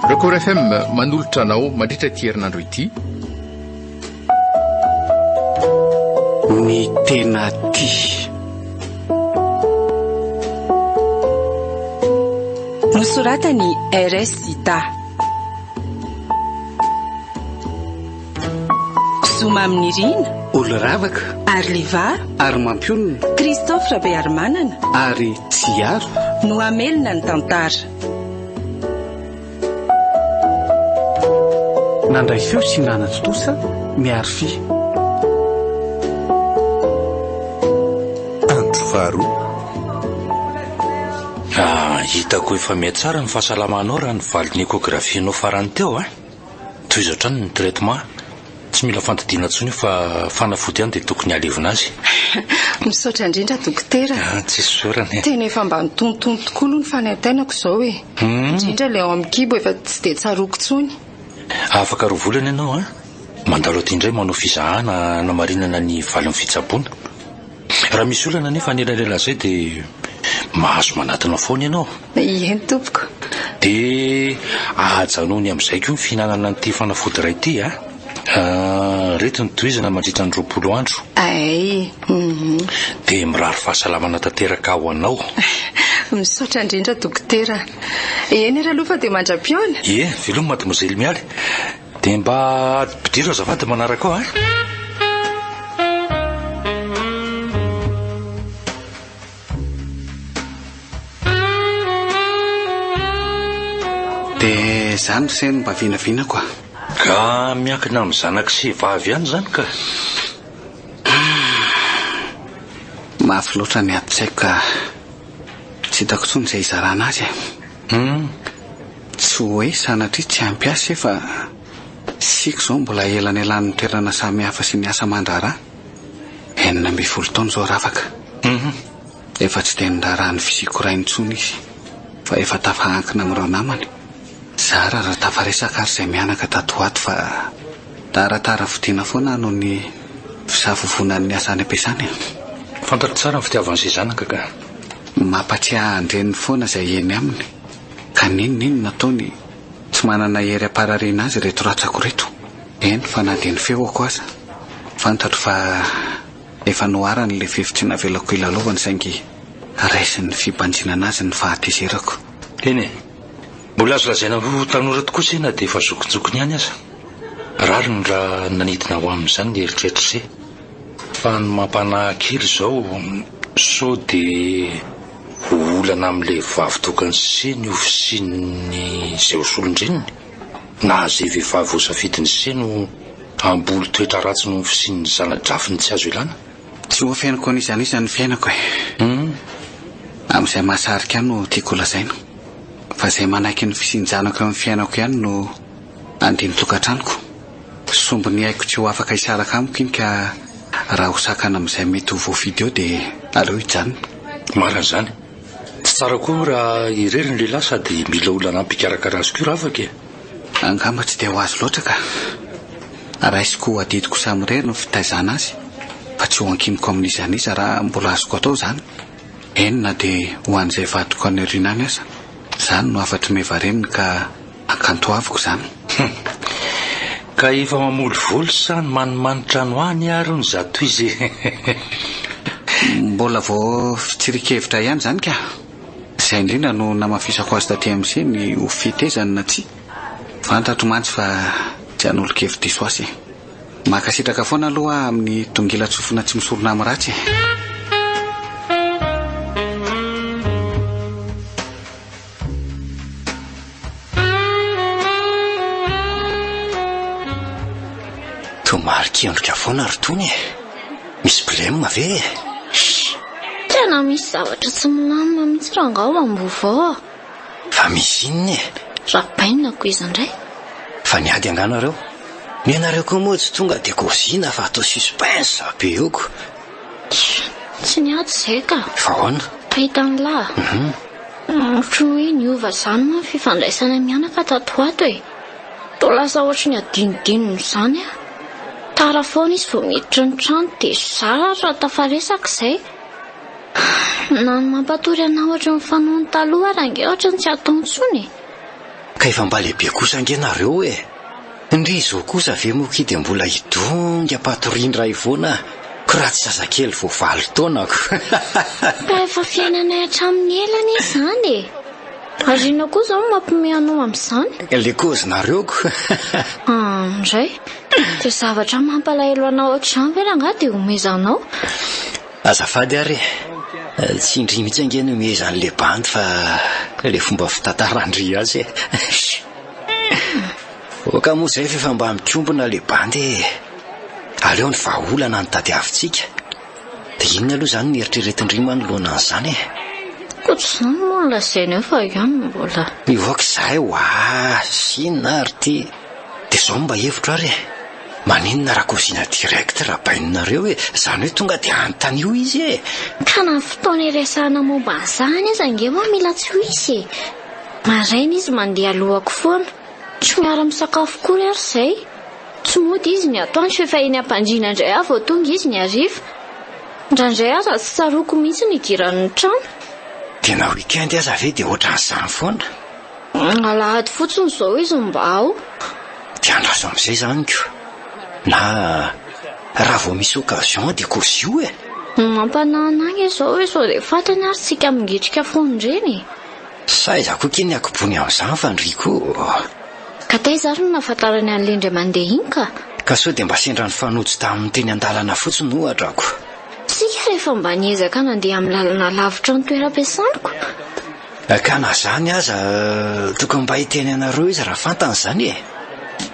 Record FM manolotra anao mandritra ity herinandro ity. Ny tena tia. Nosoratany RS Zita. Zo Mamy Nirina, Olo Ravaka, Arliva, Ary Mampionona, Christophe Rabearimanana, Ary Tsiaro, no hamelona ny tantara. Nandray feo sy nanatontosa ny Arfi. Andro faharoa. Hitako efa miha tsara ny fahasalamanao raha ny valin'ny échographie-nao farany teo an! Tohizo hatrany ny traitement. Tsy mila fandidiana intsony io fa fanafody ihany dia tokony halevina azy. Misaotra indrindra dokotera. Ah, tsy isaorana e. Tena efa mba nitonitony tokoa aloha ny fanaintainako izao e. Hmm. Indrindra ilay ao amin'ny kibo efa tsy dia tsaroako intsony. Afaka roa volana ianao a. Mandalo aty indray manao fizahana hanamarinana ny valin'ny fitsaboana. Raha misy olana anefa anelanelan' izay dia mahazo manatona foana ianao. Eny tompoko. Dia ajanony amin' izay koa ny fihinanana an' ity fanafody iray ity a! Ireto ny tohizana mandritra ny roapolo andro. Ay, hum. Dia mirary fahasalamana tanteraka ho anao. Misaotra indrindra dokotera. Eny ary aloha fa dia mandra-pihaona. Ie, veloma Mademoiselle Mialy. Dia mba ampidiro azafady manaraka ao a! Dia izany ry seny mba vinavinako a! Ka miankina amin'ny zanaka sy vavy ihany izany ka! Mafy loatra ny ady-tsaiko ka tsy hitako intsony izay hizarana azy e! Tsy hoe sanatria tsy ampy asa e fa isika izao mbola elanelan'ny toerana samihafa sy ny asa aman-draharaha. Enina ambin'ny folo taona izao Rafaka. Humm. Efa tsy dia niraharaha ny fisiako raha intsony izy fa efa tafahankina amin'ireo namany. Zara raha tafaresaka ary izay mianaka tato ho ato fa taratara vidiana foana noho ny fisavovonan'ny asa any am-piasana e. Fantatro tsara ny fitiavan'izay zanaka ka. Mampatsiahy ahy an-dreniny foana izay eny aminy. Ka n'inona inona ataony tsy manana hery amparariana azy ireto ratsako ireto. Eny fa na dia ny feoko aza fantatro fa efa noharany ilay fefy tsy navelako hilalaovany saingy raisin'ny fibanjinana azy ny fahatezerako. Eny e! Mbola azo lazaina ho tanora tokoa se na dia efa zokinjokiny ihany aza. Rariny raha nanidina ho amin'izany ny eritreritra se. Fa ny mampanahy kely izao sao dia. Ho olana amin'ny lehivavy tokony sy ny ho fisian'ny izay ho solondreniny, na izay vehivavy hosafidiny sy ny ho hamboly toetra ratsy noho ny fisian'ny zana-drafiny tsy azo ilana. Tsy ho afeniko an'iza an'iza ny fiainako e! Amin'izay mahasarika ahy no tiako holazaina, fa izay manaiky ny fisian-janako eo amin'ny fiainako ihany no andiany tokantranoko. Sombiny haiko tsy ho afaka hisaraka amiko iny ka raha ho sakana amin'izay mety ho voafidy eo dia aleo hijanona. Marina izany. Tsy tsara koa raha irery ny lehilahy sady mila olona hanampy hikarakara azy koa ravaka e! Angamba tsy dia ho azy loatra ka. Raisiko ho adidiko samirery ny fitaizana azy fa tsy ho ankiniko amin'iza n'iza raha mbola azoko atao izany. Eny na dia ho an'izay vadiko any aoriana any aza. Izany no hafatr'i Meva reniny ka. Akantoaviko izany. Hum. Ka efa mamolivoly sa ny manimanitra any ho any ary ny zatoizy eh. Mbola vao fitsirian-kevitra ihany izany ka. Izay indrindra no namafisako azy taty MC ny ho fetezany na tsia. Fantatro mantsy fa tsy hanolo-kevi-diso azy eh. Mankasitraka foana aloha aho amin'ny dongilan-tsofina tsy misorona amin'ny ratsy eh. Toa marin-kendrika foana ry Tony e. Misy blem ve e? Tena misy zavatra tsy milamina mihitsy rangaha ao Ambohivao a. Fa misy inona e? Rabaina ko izy indray. Fa niady angaha nareo? Nenareo koa moa tsy tonga dia gozina fa atao suspense be oko. Tsia, tsy niady izay ka. Fa ahoana? Pahita an'lah. Ohatry ny hoe niova izany moa ny fifandraisana mianaka tato ho ato e. Toa lasa ohatry ny adinodinony izany aho. Tara foana izy vao miditra ny trano dia zara tafaresaka izay. Na ny mampatory anà ohatry ny fanaony taloha ary ange ohatry ny tsy atao intsony e. Ka efa mba lehibe kosa ange nareo e. Ndry izao kosa ve moa ki dia mbola hidongy ampatorian ray voana ko raha tsy zazakely vao valo taona ko. Fa efa fiainanay hatramin'ny ela anie izany e! Ary inona koa izao no mampiomehy anao amin'izany? Le kozy nareo ko. Ah, indray. Dia zavatra mampalahelo anao ohatr'izany ve rangahy dia omezanao? Azafady ary e! Tsy indry mihitsy ange no mihezan'le bandy fa le fomba fitantaran-dry azy e! Oka moa zay f'efa mba mikombona le bandy e! Aleo ny vahaolana no tadiavintsika. De inona aloha zany ny eritreretin-dry manoloana an'izany e? Koa tsy izany moa no lazainy eo fa io no mbola. Mivoaka izahay ho azy, inona ary ty? De zao no mba hevitro ary e! Maninona rakofizina direct raha baininareo e! Zany hoe tonga de anontanio izy e! Ka na fotoana iresahana momba an'izany aza ange moa mila tsy ho hisy e! Maraina izy mandeha alohako foana, tsy miara misakafo akory ary izay. Tsy mody izy ny atoandro fa efa eny am-pandriana indray aho vao tonga izy ny hariva. Indraindray aza tsy tsaroako mihitsy ny idirany ny trano. Dia na week-end aza ve dia ohatran'izany foana. Alahady fotsiny izao izy no mba ao. Dia andraso amin'izay izany ko. Na raha vao misy occasion dia kozio e! Mampanahy an'ahy izao hoe sao dia fantany ary tsika mingitrika foana ireny e! Sa izaho koa kay ny akobony amin'izany fa ny Rico ô! Ka taiza ary no nahafantarany an'ilay indray mandeha iny ka? Ka sao dia mba sendra nifanojo taminy teny an-dalana fotsiny ohatra ko! Isika rehefa mba niezaka nandeha amin'ny lalana lavitra ny toeram-piasaniko. Ka na izany aza, tokony mba hiteny anareo izy raha fantany izany e!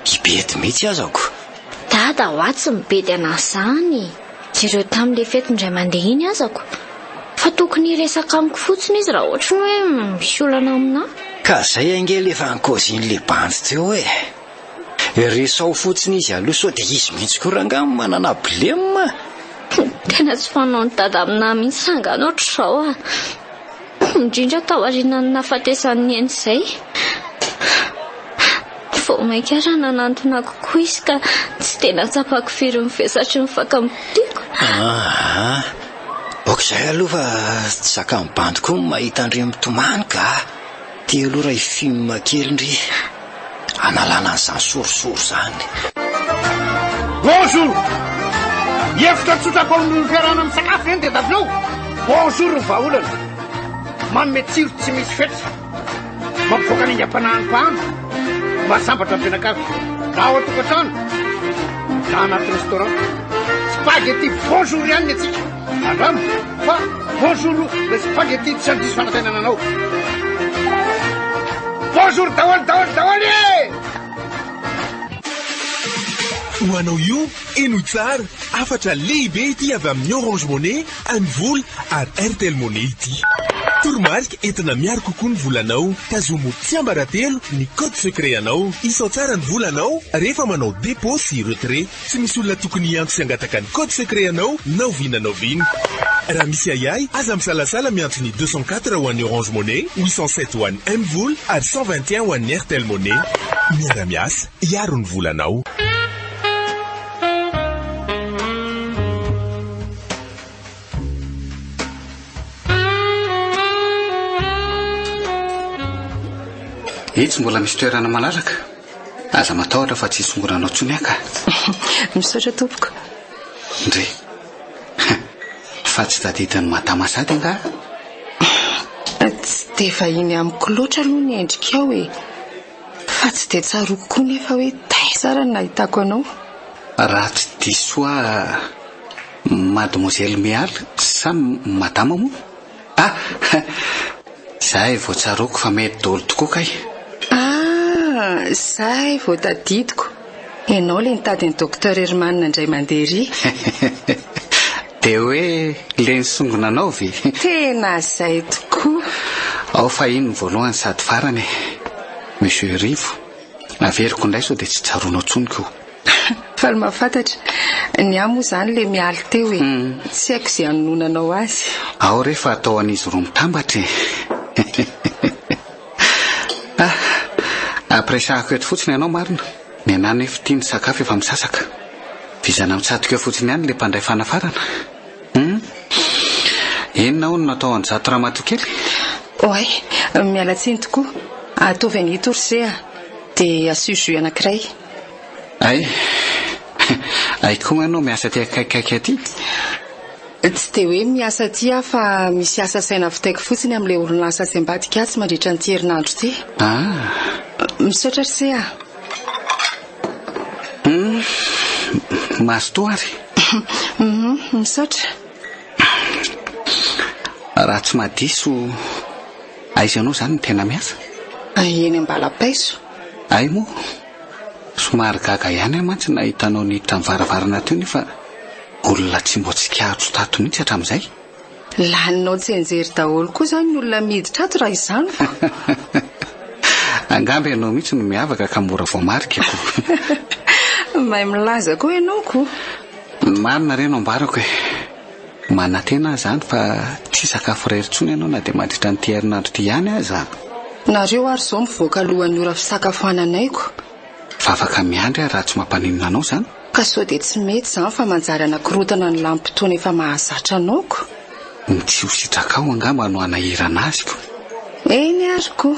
Hibedy mihitsy aza ko! Dada ho'a tsy mibedy an'izany! Jereo tamin le fety indray mandeha iny aza ko fa tokony hiresaka amiko fotsiny izy raha ohatry ny hoe misy olana aminah. Ka zay ange le efa nkaozin le bandy teo e! Resaho fotsiny izy aloha sao dia izy mihitsy ko rangah no manana blem a! Tena tsy fanao ny dada aminah mihitsy rangah ny ohatrizao a! indrindra taorianan'ny nahafatesan'ny eny izay vao mainka ary nanantona kokoa izy ka tsy dia nahatsapako firy ny vesatry ny fakam-bodiako. Ah, ok izay aloha fa tsy zakan'ny bandy koa ny mahita an-dry mitomany ka. Te-holoray film kely ndry. hanalana an'izany sorisory izany. Bonjour! Hevitra tsotra atao amin'ny fiarahana misakafo ve ny DW? Bonjour ny vahaolana. Manome tsiro tsy misy fetra. Mampivoaka ny aingam-panahin'ny mpahana. Mahasambatra ny mpianakavy. Na ao an-tokantrano, na anaty restaurant. Spaghetti bonjour ihany ny antsika. Andramo fa bonjour le spaghetti tsy handiso fanatenana anao. Bonjour daholo daholo daholo e! Ho anao io, eno tsara, hafatra lehibe ity avy amin'ny Orange Money, Anivol ary Airtel Money ity. Toromarika entina miaro kokoa ny volanao. Tazomo tsiambaratelo ny code secret anao. Isao tsara ny volanao rehefa manao dépôt sy retrait. Tsy misy olona tokony hiantso sy hangataka ny code secret anao na oviana na oviana. Raha misy ahiahy, aza misalasala miantso ny deux cent quatre ho an'ny Orange Money, huit cent sept ho an'ny Mvola ary cent vingt et un ho an'ny Airtel Money. Miara-miasa hiaro ny volanao. Etsy mbola misy toerana malalaka. Aza matahotra fa tsy hisongoranao tsony aka. Misaotra tompoko. Ndre. Fa tsy tadidin'ny madama sady nga? Tsy dia vahiny amiko loatra aloha ny endrikao e. Fa tsy dia tsaroko koa nefa hoe taiza ary ny nahitako anao. Raha tsy diso aho Mademoiselle Meal sa Madama moa? Ah! Zay vao tsaroako fa mety dolo tokoa kay! Ah! Zay vao tadidiko! Ianao le nitady an'i Docteur Herman nandray mandeha ery! De hoe le nisongona anao ve? Tena zay tokoa! Ao fa iny ny voalohany sady farany e! Monsieur Rivo, averiko indray sao de tsy tsaroanao tsony ko! Fa ny mahafantatra, ny ahy moa izany ilay mialy teo e. Tsy haiko izay hanononanao azy. Ao re fa atao an'izy roa mitambatra e. Ah, ampiresahako eto fotsiny ianao marina. Ny anah anefa ity ny sakafo efa misasaka. Vizana mitsatoka eo fotsiny ihany ilay mpandray fanafarana. Hum. Inona hono no atao an'izato ramatoa kely? Oay, miala tsiny tokoa. Ataovy an'ito ry se a. Dia asio jus anankiray. Hay! Hay koa manao miasa aty akaikikaiky aty eh! Tsy dia hoe miasa aty aho fa misy asa saina vitaiko fotsiny amin'ilay orinasa tsy ambadika atsy mandritra an'ity herinandro ity. Ah! Misaotra ry se ah! Hum! Mazotoa ary. Hum! Misaotra. Raha tsy mahadiso. Aiza ianao izany no tena miasa? Eny Ambalapaiso. Hay moa! Somary gaga ihany aho mantsy nahita anao niditra ny varavarana teo nefa olona tsy mbo tsikahitro tato mihitsy hatramin'izay. Laninao tsenjery daholo koa izany ny olona miditra ato raha izany fa. Angamba ianao mihitsy no miavaka ka mora voamarika ko! Mahay milaza koa ianao ko! Ny marina re no ambarako e! Manantena aho izany fa tsy hisakafo irery intsony ianao na dia mandritra an'ity herinandro ity ihany aza. Nareo ary izao mivoaka alohan'ny ora fisakafoananaiko. Fa afaka miandry aho raha tsy mampaninona anao izany? Ka sao dia tsy mety izany fa manjary hanakorontana ny lanim-potoana efa mahazatra anaoko? Ny tsy ho sitrakao angamba no hanahirana azy ko. Eny ary ko!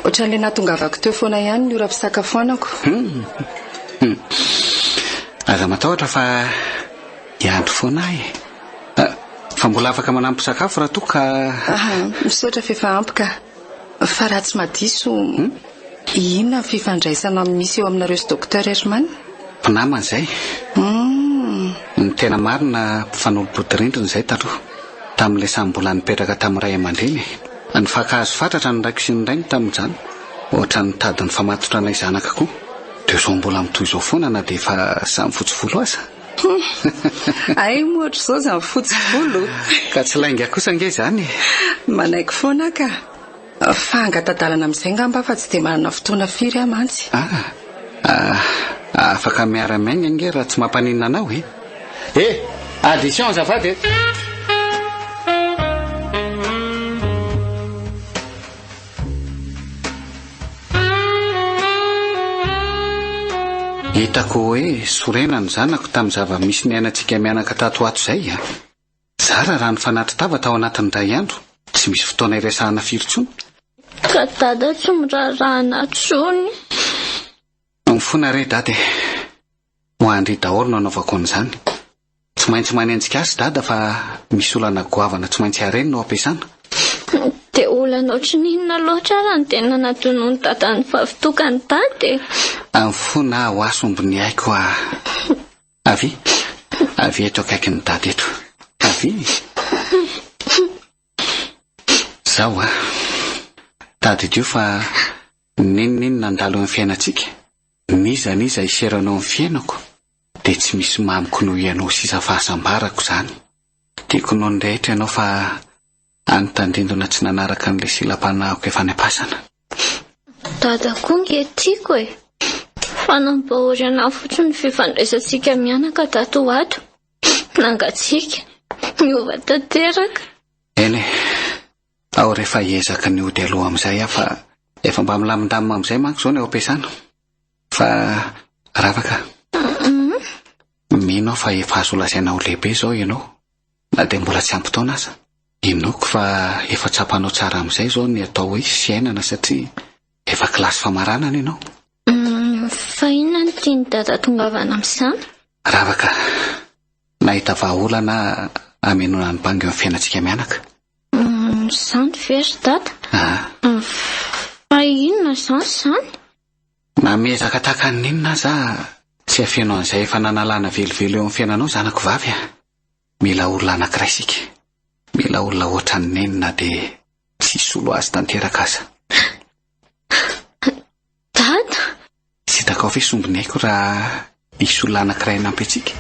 Ohatran'ilay nahatongavako teo foana ihany ny ora fisakafoanako. Hum! Hum! Aza matahotra fa. Hiandry foana aho e. Ah, fa mbola afaka manampy sakafo raha toa ka. Ah, misaotra fa efa ampy ka. Fa raha tsy madiso, hmm? inona ny fifandraisana misy eo aminareo sy Docteur Herman? Mpinamana izay. Hmm. Ny tena marina mpifanolo-bodirindrina izay taloha, tamin'ilay samy mbola nipetraka tamin'ny ray aman-dreny. Nifankahazo fatratra ny raiko sy ny rainy tamin'izany, ohatra ny tadin'ny famatotra anay zanaka koa. Dia izao mbola mitohy izao foana na dia efa samy fotsy volo aza. Hum! Ay moa ohatr'izao izany fotsy volo! Ka tsy lainga kosa ange izany e! Manaiky foana ka! Fa hangatadalana amin'izay ngamba fa tsy dia manana fotoana firy aho mantsy. Ah! Ah! Afaka miara-miainga ange raha tsy mampaninona anao e! E! Addition azafady e! Hitako hoe sorena ny zanako tamin'ny zava-misy niainantsika mianaka tato ho ato izay a! Zara raha nifanatri tava tao anatin'ny iray andro, tsy misy fotoana iresahana firy intsony. Ka dada tsy miraharaha anà intsony. Mifona re dada e! Ho an-dry daholo no anaovako an'izany. Tsy maintsy manenjika azy Dada fa misy olana goavana tsy maintsy hareny no ampiasana. Dia olana ohatry ny inona loatra ary no tena natonon'i Dada ny vavitokany Dada e? Amin'ny fo na ho aso ombin'ny aiko a! Avy? Avy eto akaikin'i Dada eto. Avy? Izao a! Tadidio fa N'inon'inona handalo amin'ny fiainantsika, n'iza n'iza hiseranao amin'ny fiainako, dia tsy misy mamiko noho Ianao sisa fahasambarako izany. Tiako noho ny rehetra Ianao fa any tandindona tsy nanaraka an'ilay silam-panahiko efa any am-pasana. Dada koa nge tiako e! Fa nampahory anah fotsiny ny fifandraisantsika mianaka tato ho ato. Nangatsiaka, niova tanteraka. Eny e! Aho rehefa hiezaka ny hody aloha amin'izay aho fa efa mba milamindamina amin'izay manko izao ny ao am-piasana. Fa rava ka. Mino aho fa efa azo lazaina ho lehibe izao ianao, na dia mbola tsy ampy taona aza. Inoako fa efa tsapanao tsara amin'izay izao ny atao hoe fiainana satria efa kilasy famaranana ianao. Fa inona no tian'i Dada atongavana amin'izany? Rava ka. Nahita vahaolana hamenoana ny bangy eo amin'ny fiainantsika mianaka. Zany ve ry dada? Ah. Fa inona izany izany? Na miezaka tahaka ny inona aza tsy afeno an'izay efa nanalana velively eo amin'ny fiainanao zanako vavy a. Mila olona anankiray isika. Mila olona ohatran'i Neny na dia tsy hisolo azy tanteraka aza. Dada! Tsy hitako afa-hoe sombiny aiko raha hisy olona anankiray hanampy antsika.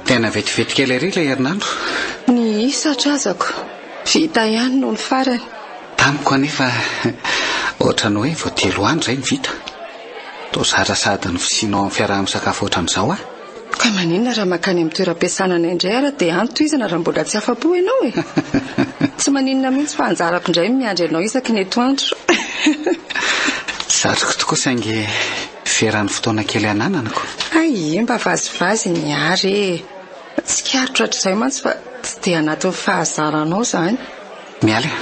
Tena vetivety kely ery ilay herinandro. Ny isa hatrazako. Vita ihany noho ny farany. Tamiko anefa ohatran'ny hoe vao telo andro izay no vita. Toa zatra sady ny fisianao amin'ny fiaraha-misakafo ohatran'izao ah! Ka maninona raha mankany amin'ny toeram-piasana anay indray ary dia any tohizana raha mbola tsy afa-po ianao e! Tsy maninona mihitsy fa anjarako indray ny miandry anao isaky ny etoandro. Zatriko tokoa saingy veran'ny fotoana kely anananako. Hay ie mba vazivazy ny ary e! Tsikaritra hatrizay mantsy fa tsy dia anatin'ny fahazaranao izany. Mialy a!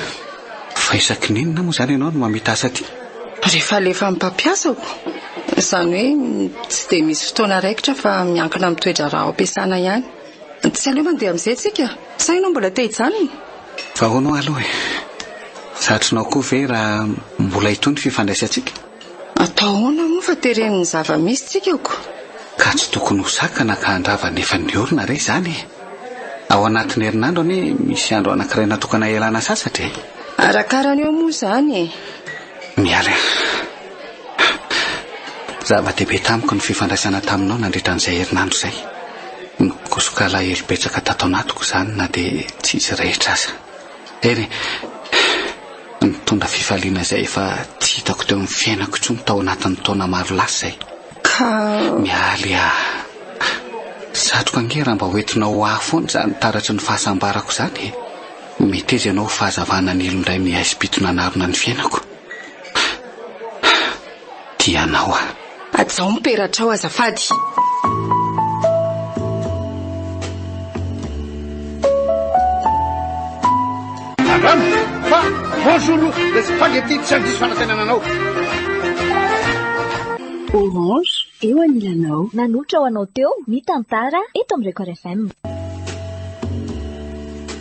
Fa isaky ny inona moa izany ianao no mamita asa aty? Rehefa alefan'ny mpampiasako. Izany hoe tsy dia misy fotoana raikitra fa miankina amin'ny toe-draharaha ao am-piasana ihany. Tsy aleo mandeha amin'izay isika? Sa ianao mbola te hijanona? Fa ahoana ho'a aloha e? Zatrinao koa ve raha mbola hitohy ny fifandraisantsika? Atao ahoana moa fa tereny ny zava-misy tsika ko? Ka tsy tokony ho sakana ka handrava ny efa niorina re izany e! Ao anatin'ny herinandro anie misy andro anankiray natokana hialana sasatra e! Arakarany eo moa izany e! Miala e! Zava-dehibe tamiko ny fifandraisana taminao nandritra an'izay herinandro izay. Nikosoka alahelo betsaka tato anatiko izany na dia tsy izy rehetra aza. Hery, nitondra fifaliana izay efa tsy hitako teo amin'ny fiainako intsony tao anatin'ny taona maro lasa e. Ka. Mialy ah. Satroka ange raha mba hoentinao ho ahy foana izany taratry ny fahasambarako izany e. Meteza ianao ho fahazavana nilo indray ny haisim-pito nanarona ny fiainako. tianao aho. Hajao ny peratrao azafady. Angamba fa bonjour le spaghetti tsy handiso fanatenana anao. Orange eo anilanao. Nanolotra ho anao teo ny tantara eto amin'ny Record FM.